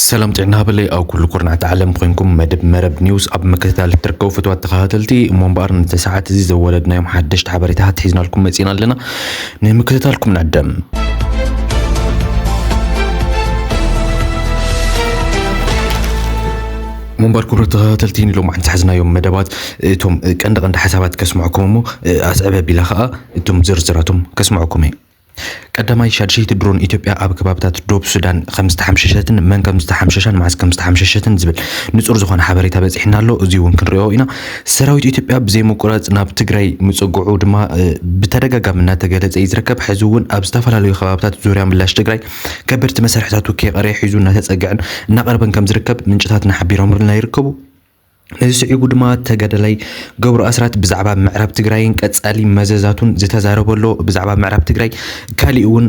ሰላም ጥዕና ሃበለ ኣብ ኩሉ ኩርናዕቲ ዓለም ኮይንኩም መደብ መረብ ኒውስ ኣብ ምክትታል እትርከቡ ፍትዋት ተኸታተልቲ እሞ እምበኣር ነቲ ሰዓት እዚ ዘወለድናዮም ሓደሽቲ ሓበሬታታት ሒዝናልኩም መፂና ኣለና ንምክትታልኩም ንዕደም እሞምበር ክቡራት ተኸታተልቲ ንሎማዕንቲ ዝሓዝናዮም መደባት እቶም ቀንዲ ቀንዲ ሓሳባት ከስምዐኩም እሞ ኣስዕብ ኣቢላ ከዓ እቶም ዝርዝራቶም ከስምዐኩም እየ። ቀዳማይ ሻድሸይቲ ድሮን ኢትዮጵያ ኣብ ከባብታት ዶብ ሱዳን ከም ዝተሓምሸሸትን መን ከም ዝተሓምሸሻን መዓዝ ከም ዝተሓምሸሸትን ዝብል ንጹር ዝኾነ ሓበሬታ በጺሕና ኣሎ። እዚ እውን ክንሪኦ ኢና። ሰራዊት ኢትዮጵያ ብዘይምቁራጽ ናብ ትግራይ ምጽግዑ ድማ ብተደጋጋሚ እናተገለጸ እዩ ዝርከብ። ሕዚ እውን ኣብ ዝተፈላለዩ ከባብታት ዙርያ ምላሽ ትግራይ ከበድቲ መሳርሕታት ውክየ ቀሪያ ሒዙ እናተፀግዐን እናቐረበን ከምዝርከብ ምንጭታትና ሓቢሮምልና ይርከቡ። ነዚ ስዒቡ ድማ ተጋዳላይ ገብሩ ኣስራት ብዛዕባ ምዕራብ ትግራይን ቀፃሊ መዘዛቱን ዝተዛረቦ ኣሎ። ብዛዕባ ምዕራብ ትግራይ ካሊእ እውን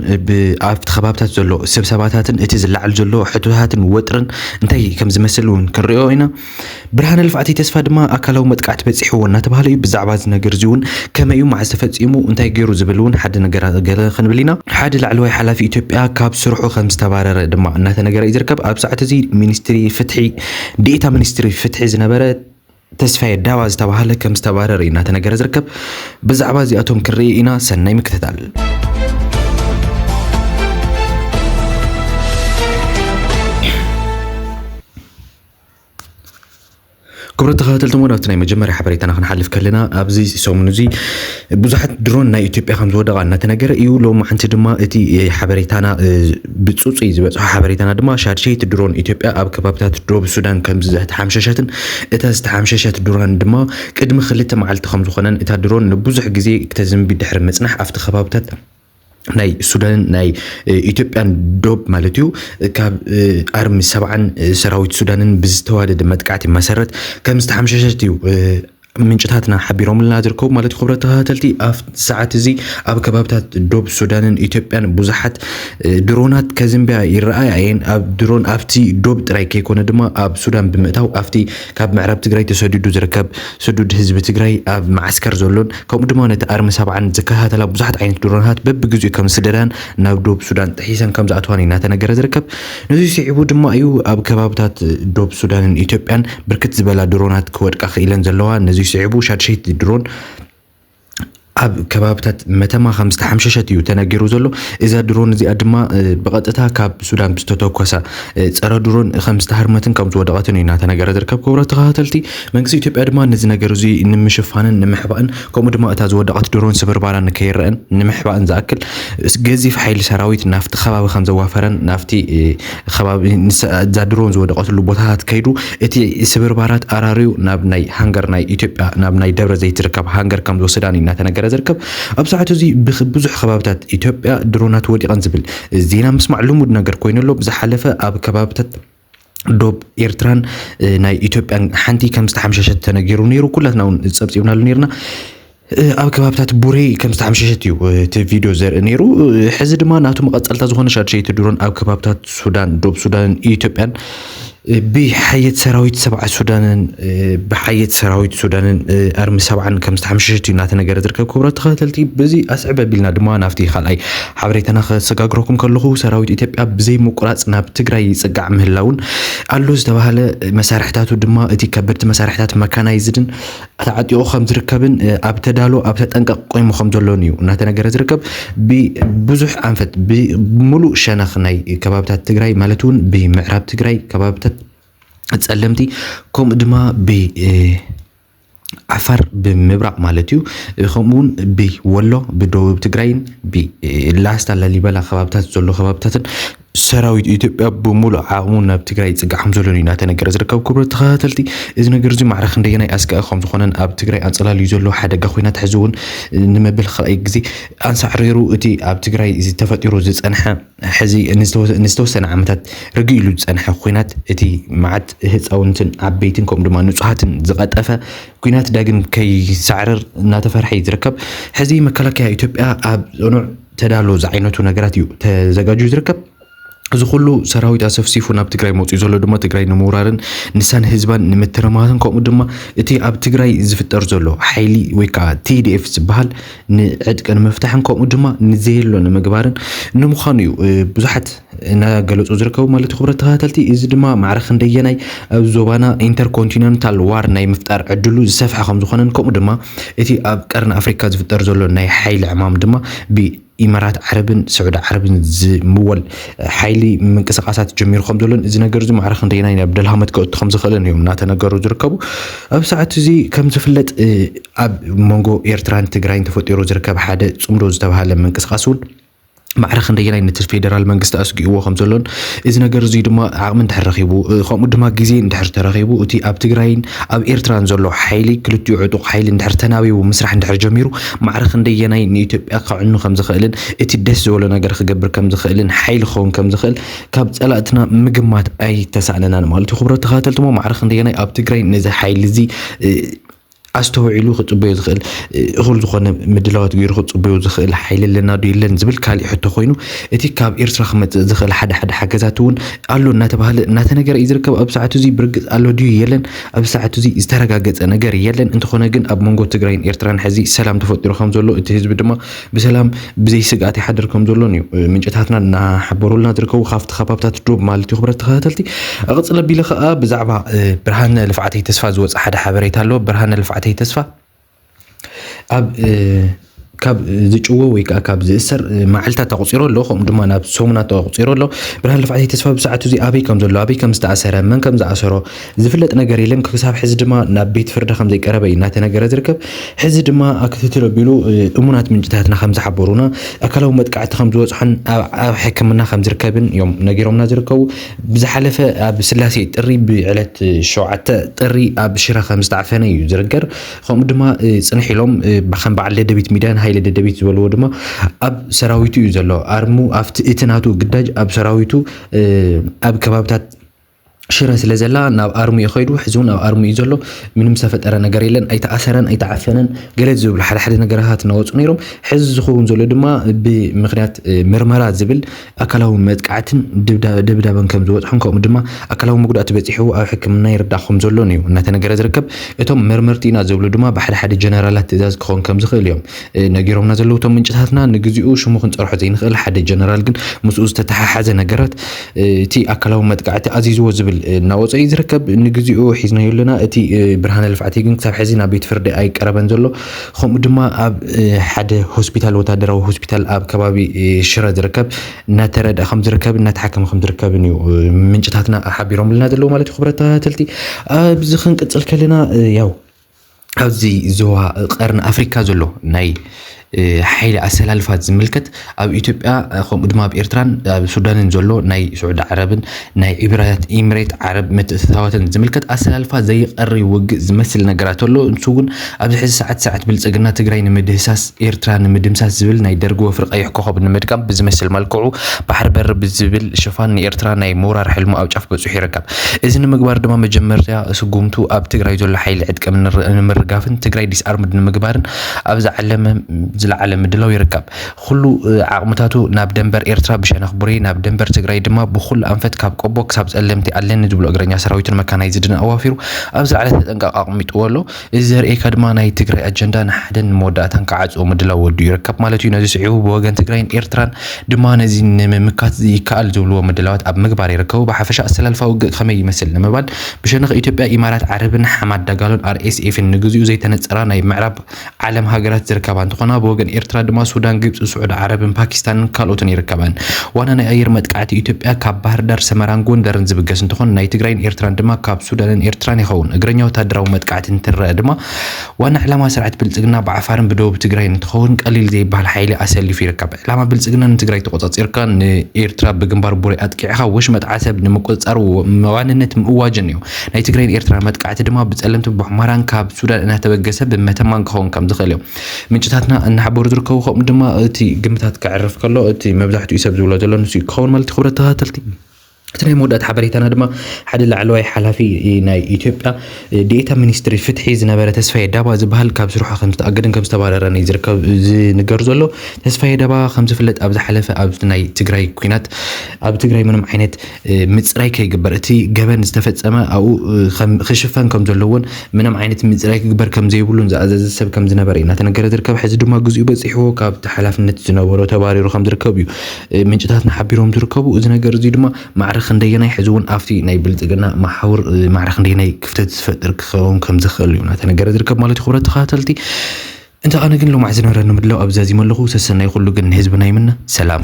ኣብቲ ከባብታት ዘሎ ስብሰባታትን እቲ ዝለዓል ዘሎ ሕቶታትን ወጥርን እንታይ ከምዝመስል እውን ክንሪኦ ኢና። ብርሃነ ልፍዓተይ ተስፋ ድማ ኣካላዊ መጥቃዕቲ በጺሕዎ እናተባህለ እዩ። ብዛዕባ እዚ ነገር እዚ እውን ከመይ እዩ፣ መዓዝ ተፈጺሙ፣ እንታይ ገይሩ ዝብል እውን ሓደ ነገራት ገለ ክንብል ኢና። ሓደ ላዕለዋይ ሓላፊ ኢትዮጵያ ካብ ስርሑ ከም ዝተባረረ ድማ እናተነገረ እዩ ዝርከብ። ኣብ ሰዓት እዚ ሚኒስትሪ ፍትሒ ዲኤታ ሚኒስትሪ ፍትሒ ዝነበረ ተስፋየ ዳባ ዝተባህለ ከም ዝተባረረ እዩ እናተነገረ ዝርከብ። ብዛዕባ እዚኣቶም ክንርኢ ኢና። ሰናይ ምክትታል። ክብረት ተኸታተልቲ እውን ኣብቲ ናይ መጀመርያ ሓበሬታና ክንሓልፍ ከለና ኣብዚ ሰሙን እዚ ብዙሓት ድሮን ናይ ኢትዮጵያ ከም ዝወደቓ እናተነገረ እዩ ሎሚ ሓንቲ ድማ እቲ ሓበሬታና ብፅፁይ ዝበፅሖ ሓበሬታና ድማ ሻድሸይቲ ድሮን ኢትዮጵያ ኣብ ከባቢታት ዶብ ሱዳን ከም ዝተሓምሸሸትን እታ ዝተሓምሸሸት ድሮን ድማ ቅድሚ ክልተ መዓልቲ ከም ዝኾነን እታ ድሮን ንብዙሕ ግዜ ክተዝንቢ ድሕሪ ምፅናሕ ኣብቲ ከባብታት ናይ ሱዳንን ናይ ኢትዮጵያን ዶብ ማለት እዩ ካብ ኣርሚ ሰብዓን ሰራዊት ሱዳንን ብዝተዋደደ መጥቃዕቲ መሰረት ከም ዝተሓምሸሸት እዩ ምንጭታትና ሓቢሮምልና ዝርከቡ ማለት እዩ ክብረት ተኸታተልቲ ኣብ ሰዓት እዚ ኣብ ከባብታት ዶብ ሱዳንን ኢትዮጵያን ብዙሓት ድሮናት ከዝንብያ ይረኣያ እየን ኣብ ድሮን ኣብቲ ዶብ ጥራይ ከይኮነ ድማ ኣብ ሱዳን ብምእታው ኣብቲ ካብ ምዕራብ ትግራይ ተሰዲዱ ዝርከብ ስዱድ ህዝቢ ትግራይ ኣብ መዓስከር ዘሎን ከምኡ ድማ ነቲ ኣርሚ ሰብዓን ዝከታተላ ብዙሓት ዓይነት ድሮናት በብግዜኡ ከም ዝስደዳን ናብ ዶብ ሱዳን ጥሒሰን ከም ዝኣትዋን እዩ እናተነገረ ዝርከብ። ነዚ ስዒቡ ድማ እዩ ኣብ ከባብታት ዶብ ሱዳንን ኢትዮጵያን ብርክት ዝበላ ድሮናት ክወድቃ ክኢለን ዘለዋ። ነዚ ስዒቡ ሻድሸይቲ ድሮን ኣብ ከባብታት መተማ ከም ዝተሓምሸሸት እዩ ተነጊሩ ዘሎ እዛ ድሮን እዚኣ ድማ ብቐጥታ ካብ ሱዳን ብዝተተኮሳ ፀረ ድሮን ከም ዝተሃርመትን ከም ዝወደቐትን እዩ እናተነገረ ዝርከብ ክቡራት ተኸታተልቲ መንግስቲ ኢትዮጵያ ድማ ነዚ ነገር እዚ ንምሽፋንን ንምሕባእን ከምኡ ድማ እታ ዝወደቐት ድሮን ስብርባራ ንከይረኣን ንምሕባእን ዝኣክል ገዚፍ ሓይሊ ሰራዊት ናብቲ ከባቢ ከም ዘዋፈረን ናብቲ ከባቢ እዛ ድሮን ዝወደቐትሉ ቦታታት ከይዱ እቲ ስብርባራት ኣራርዩ ናብ ናይ ሃንገር ናይ ኢትዮጵያ ናብ ናይ ደብረ ዘይት ዝርከብ ሃንገር ከም ዝወሰዳን እዩ እናተነገረ ዝርከብ ኣብ ሰዓቱ እዚ ብዙሕ ከባብታት ኢትዮጵያ ድሮናት ወዲቐን ዝብል ዜና ምስማዕ ልሙድ ነገር ኮይኑ ኣሎ ብዝሓለፈ ኣብ ከባብታት ዶብ ኤርትራን ናይ ኢትዮጵያን ሓንቲ ከም ዝተሓምሸሸት ተነጊሩ ነይሩ ኩላትና እውን ፀብፂብናሉ ነርና ኣብ ከባብታት ቡሬ ከም ዝተሓምሸሸት እዩ እቲ ቪድዮ ዘርኢ ነይሩ ሕዚ ድማ ናቱ መቐፀልታ ዝኾነ ሻድሸይቲ ድሮን ኣብ ከባብታት ሱዳን ዶብ ሱዳንን ኢትዮጵያን ብሓየት ሰራዊት ሰብዓ ሱዳንን ብሓየት ሰራዊት ሱዳንን ኣርሚ ሰብዓን ከም ዝተሓምሸሸት እዩ እናተነገረ ዝርከብ ክብረት ተኸታተልቲ በዚ ኣስዕብ ኣቢልና ድማ ናብቲ ካልኣይ ሓበሬታና ከሰጋግረኩም ከለኹ ሰራዊት ኢትዮጵያ ብዘይ ምቁራፅ ናብ ትግራይ ይፅጋዕ ምህላውን ኣሎ ዝተባሃለ መሳርሕታቱ ድማ እቲ ከበድቲ መሳርሕታት መካናይዝድን ተዓጢቑ ከም ዝርከብን ኣብ ተዳሎ ኣብ ተጠንቀቕ ቆይሙ ከም ዘሎን እዩ እናተነገረ ዝርከብ ብብዙሕ ኣንፈት ብምሉእ ሸነኽ ናይ ከባብታት ትግራይ ማለት እውን ብምዕራብ ትግራይ ከባብታት ጸለምቲ ከምኡ ድማ ብ ዓፋር ብምብራቕ ማለት እዩ። ከምኡ እውን ብወሎ ብደቡብ ትግራይን ብላስታ ላሊበላ ከባብታት ዘሎ ከባብታትን ሰራዊት ኢትዮጵያ ብምሉእ ዓቕሙ ናብ ትግራይ ይፅጋዕ ከም ዘሎን እዩ እናተነገረ ዝርከብ። ክቡር ተኸታተልቲ እዚ ነገር እዚ ማዕረ ክንደየናይ ኣስጋኢ ከም ዝኾነን ኣብ ትግራይ ኣንፀላልዩ ዘሎ ሓደጋ ኩናት ሕዚ እውን ንመበል ካልኣይ ግዜ ኣንሳዕሪሩ እቲ ኣብ ትግራይ ተፈጢሩ ዝፀንሐ ሕዚ ንዝተወሰነ ዓመታት ርግእ ኢሉ ዝፀንሐ ኲናት እቲ መዓት ህፃውንትን ዓበይትን ከምኡ ድማ ንፁሃትን ዝቐጠፈ ኲናት ዳግም ከይሳዕርር እናተፈርሐ እዩ ዝርከብ። ሕዚ መከላከያ ኢትዮጵያ ኣብ ፅኑዕ ተዳሎ ዝዓይነቱ ነገራት እዩ ተዘጋጅዩ ዝርከብ። እዚ ኩሉ ሰራዊት ኣሰፍሲፉ ናብ ትግራይ መፅኡ ዘሎ ድማ ትግራይ ንምውራርን ንሳን ህዝባን ንምትርማትን ከምኡ ድማ እቲ ኣብ ትግራይ ዝፍጠር ዘሎ ሓይሊ ወይ ከዓ ቲዲኤፍ ዝበሃል ንዕጥቂ ንምፍታሕን ከምኡ ድማ ንዘየሎ ንምግባርን ንምዃኑ እዩ ብዙሓት እናገለፁ ዝርከቡ ማለት ክብረት ተኸታተልቲ እዚ ድማ ማዕረ ክንደየናይ ኣብ ዞባና ኢንተርኮንቲነንታል ዋር ናይ ምፍጣር ዕድሉ ዝሰፍሐ ከም ዝኾነን ከምኡ ድማ እቲ ኣብ ቀርኒ ኣፍሪካ ዝፍጠር ዘሎ ናይ ሓይሊ ዕማም ድማ ብኢማራት ዓረብን ስዑዲ ዓረብን ዝምወል ሓይሊ ምንቅስቃሳት ጀሚሩ ከም ዘሎን እዚ ነገር እዚ ማዕረ ክንደየናይ ናብ ደልሃመት ከእቱ ከም ዝኽእልን እዮም እናተነገሩ ዝርከቡ ኣብ ሰዓት እዚ ከም ዝፍለጥ ኣብ መንጎ ኤርትራን ትግራይን ተፈጢሩ ዝርከብ ሓደ ጽምዶ ዝተብሃለ ምንቅስቓስ እውን ማዕረ ክንደየናይ ነቲ ፌደራል መንግስቲ ኣስጊእዎ ከም ዘሎን እዚ ነገር እዙይ ድማ ዓቕሚ እንድሕር ረኺቡ ከምኡ ድማ ግዜ እንድሕር ተረኺቡ እቲ ኣብ ትግራይን ኣብ ኤርትራን ዘሎ ሓይሊ ክልቲኡ ዕጡቕ ሓይሊ እንድሕር ተናቢቡ ምስራሕ እንድሕር ጀሚሩ ማዕረ ክንደየናይ ንኢትዮጵያ ከዕኑ ከም ዝኽእልን እቲ ደስ ዝበሎ ነገር ክገብር ከም ዝኽእልን ሓይሊ ክኸውን ከም ዝኽእል ካብ ጸላእትና ምግማት ኣይተሳእነናን ማለት እዩ። ክብሮ ተኸታተልትሞ ማዕረ ክንደየናይ ኣብ ትግራይ ነዚ ሓይሊ እዚ ኣስተውዒሉ ክጽበዮ ዝኽእል እኹል ዝኾነ ምድላዋት ገይሩ ክጽበዮ ዝኽእል ሓይሊ ኣለና ዶ የለን ዝብል ካሊእ ሕቶ ኮይኑ እቲ ካብ ኤርትራ ክመጽእ ዝኽእል ሓደ ሓደ ሓገዛት እውን ኣሎ እናተባህለ እናተነገረ እዩ ዝርከብ ኣብ ሰዓቱ እዚ ብርግጽ ኣሎ ድዩ የለን ኣብ ሰዓቱ እዚ ዝተረጋገጸ ነገር የለን እንተኾነ ግን ኣብ መንጎ ትግራይን ኤርትራን ሕዚ ሰላም ተፈጢሩ ከም ዘሎ እቲ ህዝቢ ድማ ብሰላም ብዘይ ስግኣት ይሓድር ከም ዘሎን እዩ ምንጭታትና እናሓበሩልና ዝርከቡ ካብቲ ከባብታት ዶብ ማለት እዩ። ክብረት ተኸታተልቲ እቕፅል ኣቢለ ከዓ ብዛዕባ ብርሃነ ልፍዓተይ ተስፋ ዝወፀ ሓደ ሓበሬታ ኣሎ። ብርሃነ ልፍዓተይ ተስፋ ኣብ ካብ ዝጭወ ወይ ከዓ ካብ ዝእሰር መዓልታት ኣቁፂሮ ኣሎ ከምኡ ድማ ናብ ሰሙናት ኣቁፂሮ ኣሎ ብርሃን ልፍዓተይ ተስፋ ብሰዓቱ እዚ ኣበይ ከም ዘሎ ኣበይ ከም ዝተኣሰረ መን ከም ዝኣሰሮ ዝፍለጥ ነገር የለን። ክሳብ ሕዚ ድማ ናብ ቤት ፍርዲ ከም ዘይቀረበ እዩ እናተነገረ ዝርከብ። ሕዚ ድማ ክትትል ኣቢሉ እሙናት ምንጭታትና ከም ዝሓበሩና ኣካላዊ መጥቃዕቲ ከም ዝበፅሖን ኣብ ሕክምና ከም ዝርከብን እዮም ነጊሮምና ዝርከቡ። ብዝሓለፈ ኣብ ስላሴ ጥሪ ብዕለት ሸውዓተ ጥሪ ኣብ ሽረ ከም ዝተዓፈነ እዩ ዝርገር። ከምኡ ድማ ፅንሕ ኢሎም ከም በዓል ደደቢት ሚዳን ሃይለ ደደቢት ዝበልዎ ድማ ኣብ ሰራዊቱ እዩ ዘሎ ኣርሙ ኣብቲ እቲ ናቱ ግዳጅ ኣብ ሰራዊቱ ኣብ ከባብታት ሽረ ስለ ዘላ ናብ ኣርሙ እዩ ከይዱ ሕዚ እውን ኣብ ኣርሙ እዩ ዘሎ ምንም ዝተፈጠረ ነገር የለን ኣይተኣሰረን ኣይተዓፈነን ገለ ዝብሉ ሓደ ሓደ ነገራታት እናወፁ ነይሮም ሕዚ ዝኸውን ዘሎ ድማ ብምክንያት ምርመራ ዝብል ኣካላዊ መጥቃዕትን ደብዳበን ከም ዝበፅሖን ከምኡ ድማ ኣካላዊ መጉዳእቲ በፂሕዎ ኣብ ሕክምና ይርዳእ ከም ዘሎን እዩ እናተነገረ ዝርከብ እቶም መርመርቲ ኢና ዝብሉ ድማ ብሓደ ሓደ ጀነራላት ትእዛዝ ክኸውን ከም ዝኽእል እዮም ነጊሮምና ዘለዉ እቶም ምንጭታትና ንግዚኡ ሽሙ ክንፀርሖ ዘይንኽእል ሓደ ጀነራል ግን ምስኡ ዝተተሓሓዘ ነገራት እቲ ኣካላዊ መጥቃዕቲ ኣዚዝዎ ዝብል እናወፀ እዩ ዝርከብ ንግዚኡ ሒዝናዮ ኣለና እቲ ብርሃነ ልፍዓቲ ግን ክሳብ ሕዚ ናብ ቤት ፍርዲ ኣይቀረበን ዘሎ ከምኡ ድማ ኣብ ሓደ ሆስፒታል ወታደራዊ ሆስፒታል ኣብ ከባቢ ሽረ ዝርከብ እናተረድኣ ከም ዝርከብ እናተሓከመ ከም ዝርከብን እዩ ምንጭታትና ሓቢሮምልና ዘለዉ ማለት እዩ ክብረት ተኸታተልቲ ኣብዚ ክንቅፅል ከለና ያው ኣብዚ ዞባ ቀርኒ ኣፍሪካ ዘሎ ናይ ሓይሊ ኣሰላልፋ ዝምልከት ኣብ ኢትዮጵያ ከምኡ ድማ ኣብ ኤርትራን ኣብ ሱዳንን ዘሎ ናይ ስዑዲ ዓረብን ናይ ኢብራት ኢምሬት ዓረብ ምትእትታዋትን ዝምልከት ኣሰላልፋ ዘይቀሪ ውግእ ዝመስል ነገራት ኣሎ ንሱ እውን ኣብዚ ሕዚ ሰዓት ስርዓት ብልፅግና ትግራይ ንምድህሳስ ኤርትራ ንምድምሳስ ዝብል ናይ ደርጊ ወፍሪ ቀይሕ ኮኸብ ንምድጋም ብዝመስል መልክዑ ባሕሪ በሪ ብዝብል ሽፋን ንኤርትራ ናይ ምውራር ሕልሙ ኣብ ጫፍ በፂሑ ይርከብ እዚ ንምግባር ድማ መጀመርያ ስጉምቱ ኣብ ትግራይ ዘሎ ሓይሊ ዕጥቀ ንምርጋፍን ትግራይ ዲስኣርምድ ንምግባርን ኣብ ዝዓለመ ዝለዓለ ምድላው ይርከብ። ኹሉ ዓቕምታቱ ናብ ደንበር ኤርትራ ብሸነኽ ቡሬ ናብ ደንበር ትግራይ ድማ ብኹሉ ኣንፈት ካብ ቆቦ ክሳብ ፀለምቲ ኣለኒ ዝብሎ እግረኛ ሰራዊቱን መካናይዝድን ኣዋፊሩ ኣብ ዝለዓለ ተጠንቀቕ ኣቕሚጥዎ'ሎ። እዚ ዘርእየካ ድማ ናይ ትግራይ ኣጀንዳ ንሓደን ንመወዳእታን ክዓጽዎ ምድላው ወዲኡ ይርከብ ማለት እዩ። ነዚ ስዒቡ ብወገን ትግራይን ኤርትራን ድማ ነዚ ንምምካት ይከኣል ዝብልዎ ምድላዋት ኣብ ምግባር ይርከቡ። ብሓፈሻ ኣሰላልፋ ውግእ ከመይ ይመስል ንምባል ብሸነኽ ኢትዮጵያ፣ ኢማራት ዓረብን ሓማድ ዳጋሎን፣ RSF፣ ን ንግዚኡ ዘይተነጸራ ናይ ምዕራብ ዓለም ሃገራት ዝርከባ እንትኾና ብወገን ኤርትራ ድማ ሱዳን፣ ግብጺ፣ ስዑዲ ዓረብን ፓኪስታንን ካልኦትን ይርከበን። ዋና ናይ ኣየር መጥቃዕቲ ኢትዮጵያ ካብ ባህርዳር፣ ሰመራን ጎንደርን ዝብገስ እንትኾን ናይ ትግራይን ኤርትራን ድማ ካብ ሱዳንን ኤርትራን ይኸውን። እግረኛ ወታደራዊ መጥቃዕቲ እንትረኣ ድማ ዋና ዕላማ ስርዓት ብልፅግና ብዓፋርን ብደቡብ ትግራይን እንትኸውን ቀሊል ዘይበሃል ሓይሊ ኣሰሊፉ ይርከብ። ዕላማ ብልፅግና ንትግራይ ተቖፃፂርካ ንኤርትራ ብግንባር ቡሬ ኣጥቂዕኻ ወሽመጥ ዓሰብ ንምቁፅፃር ዋንነት ምእዋጅን እዩ። ናይ ትግራይን ኤርትራን መጥቃዕቲ ድማ ብፀለምትን ብሑመራን ካብ ሱዳን እናተበገሰ ብመተማን ክኸውን ከምዝኽእል እዩ። ምንጭታትና እናሓበሩ ዝርከቡ ከምኡ ድማ እቲ ግምታት ከዕርፍ ከሎ እቲ መብዛሕትኡ ሰብ ዝብሎ ዘሎ ንሱ ክኸውን ማለት ክብረት ተኸታተልቲ እቲ ናይ መወዳእታ ሓበሬታና ድማ ሓደ ላዕለዋይ ሓላፊ ናይ ኢትዮጵያ ዴኤታ ሚኒስትሪ ፍትሒ ዝነበረ ተስፋዬ ዳባ ዝበሃል ካብ ስርሖ ከም ዝተኣገደን ከም ዝተባረረን እዩ ዝርከብ ዝንገር ዘሎ። ተስፋዬ ዳባ ከም ዝፍለጥ ኣብ ዝሓለፈ ኣብ ናይ ትግራይ ኩናት ኣብ ትግራይ ምንም ዓይነት ምፅራይ ከይግበር እቲ ገበን ዝተፈፀመ ኣብኡ ክሽፈን ከምዘለዎን ምንም ዓይነት ምፅራይ ክግበር ከምዘይብሉን ዝኣዘዘ ሰብ ከምዝነበረ እዩ እናተነገረ ዝርከብ። ሕዚ ድማ ግዜኡ በፂሕዎ ካብቲ ሓላፍነት ዝነበሮ ተባሪሩ ከምዝርከብ እዩ ምንጭታትና ሓቢሮም ዝርከቡ። እዚ ነገር እዚ ድማ ማዕረ ክንደየናይ ሕዚ እውን ኣብቲ ናይ ብልፅግና መሓውር ማዕረ ክንደየናይ ክፍተት ዝፈጥር ክኸውን ከምዝኽእል እዩ እናተነገረ ዝርከብ ማለት እዩ። ክብረት ተኸታተልቲ እንተ ኣነ ግን ሎማዕ ዝነበረኒ ምድላው ኣብዚ ዛዚመ ኣለኹ። ሰሰናዩ ኩሉ ግን ንህዝብና ይምነ። ሰላም።